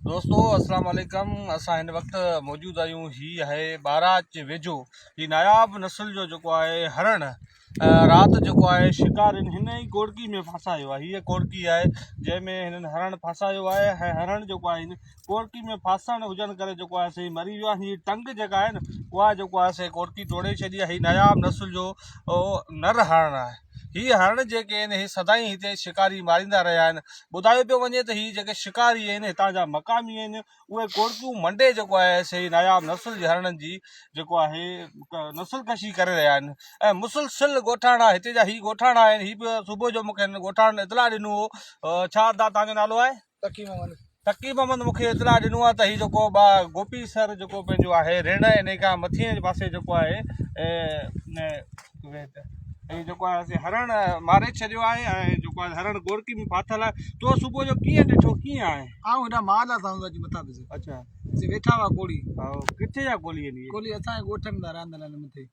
دوستو السلام عليڪم اسان هن وقت موجود آهيون هي آهي ٻاراچ جي ويجهو هي ناياب نسل جو جيڪو آهي هرڻ رات جيڪو آهي شڪار هن ئي ڪوڙڪي ۾ ڦاسايو آهي هيء ڪوڙڪي آهي جنهن ۾ هنن هرڻ ڦاسايو آهي هي هرڻ جيڪو آهي هن ڪوڙڪي ۾ ڦاسڻ هجڻ ڪري جيڪو آهي سي مري ويو آهي هي ٽنگ جيڪا آهي نه اها جيڪو آهي سي ڪوڙڪي ٽوڙي ڇڏي آهي هي ناياب نسل جو نر هرڻ آهي هي هرڻ جيڪي آهن هي سدائين هتي شڪاري ماريندا رهيا آهن ٻڌايو پيو وڃي ته هي جيڪي شڪاري آهن هتان جا مقامي آهن اهي ڪوڙڪيون منڊي جيڪو آهي سي ناياب نسل جي هرڻن جي جيڪو آهي نسل ڪشي ڪري رهيا آهن ۽ مسلسل ڳوٺاڻا هتي جا هي ڳوٺاڻا آهن هي به صبح جو مونکي هن ڳوٺاڻن اطلاع ڏنو هو ڇا ادا تان جو نالو آهي تقي محمد تقي محمد مونکي اطلاع ڏنو آهي ته هي جيڪو با گوپي سر جيڪو پنهنجو آهي ريڙهه انهي کان مٿين جي پاسي جيڪو آهي هي جيڪو آهي سي هرڻ ماري ڇڏيو آهي ۽ جيڪو آهي هرڻ گورڪي ۾ ڦاٿل آهي تو صبح جو ڪيئن ڏٺو ڪيئن آهي آئون هيڏا مال آ سان اچي مٿا پيسي اچا سي ويٺا هئا ڪولي ها ڪٿي جا ڪولي هني ڪولي اسان جي ڳوٺ ۾ رهندل آهن مٿي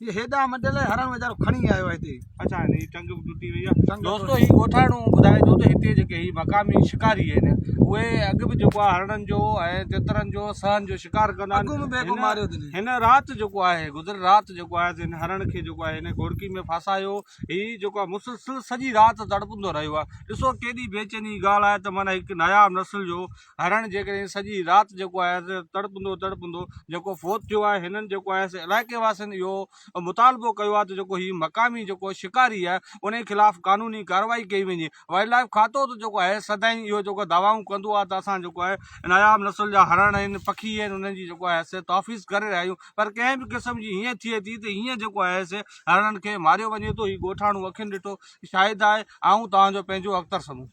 هي هيڏانهن مڏيل هرڻ ويچارو کڻي آيو آهي هتي. اڇا هن جي ٽنگ به ٽٽي وئي آهي. ٽنگ دوستو هي ڳوٺاڻو ٻڌائي ٿو ته هتي جيڪي هي مقامي شڪاري آهن اهي اڳ به جيڪو آهي هرڻن جو ۽ تترن جو سهن جو شڪار ڪندا آهن. اڳ به بيگهو ماريو اٿن هي. هن رات جيڪو آهي گذريل رات جيڪو آهي سي هن هرڻ کي جيڪو آهي هن گهوڙڪي ۾ ڦاسايو. هي جيڪو آهي مسلسل سڄي رات تڙپندو رهيو آهي. ڏسو ڪيڏي بيچيني جي ڳالهه آهي ته معنيٰ هڪ ناياب نسل جو هرڻ جيڪڏهن سڄي رات جيڪو آهي سي تڙپندو تڙپندو جيڪو فوت ٿيو آهي هنن جيڪو آهي سي علائقي واسين اهو مطالبو ڪيو آهي ته جيڪو هي مقامي جيڪو شڪاري آهي انهي خلاف قانوني ڪارروائي ڪئي وڃي وائلڊ لائف کاتو ته جيڪو آهي سدائين اهو جيڪو دعوائون ڪندو آهي ته اسان جيڪو آهي ناياب نسل جا هرڻ آهن پکي آهن انهن جي جيڪو آهي سي تحفيظ ڪري رهيا آهيون پر ڪنهن به قسم جي هيئن ٿئي ٿي ته هيئن جيڪو آهي سي هرڻن کي ماريو وڃي ٿو هي ڳوٺاڻو اکين ڏٺو شاهد آهي آئون توهان جو پنهنجو اختر سمون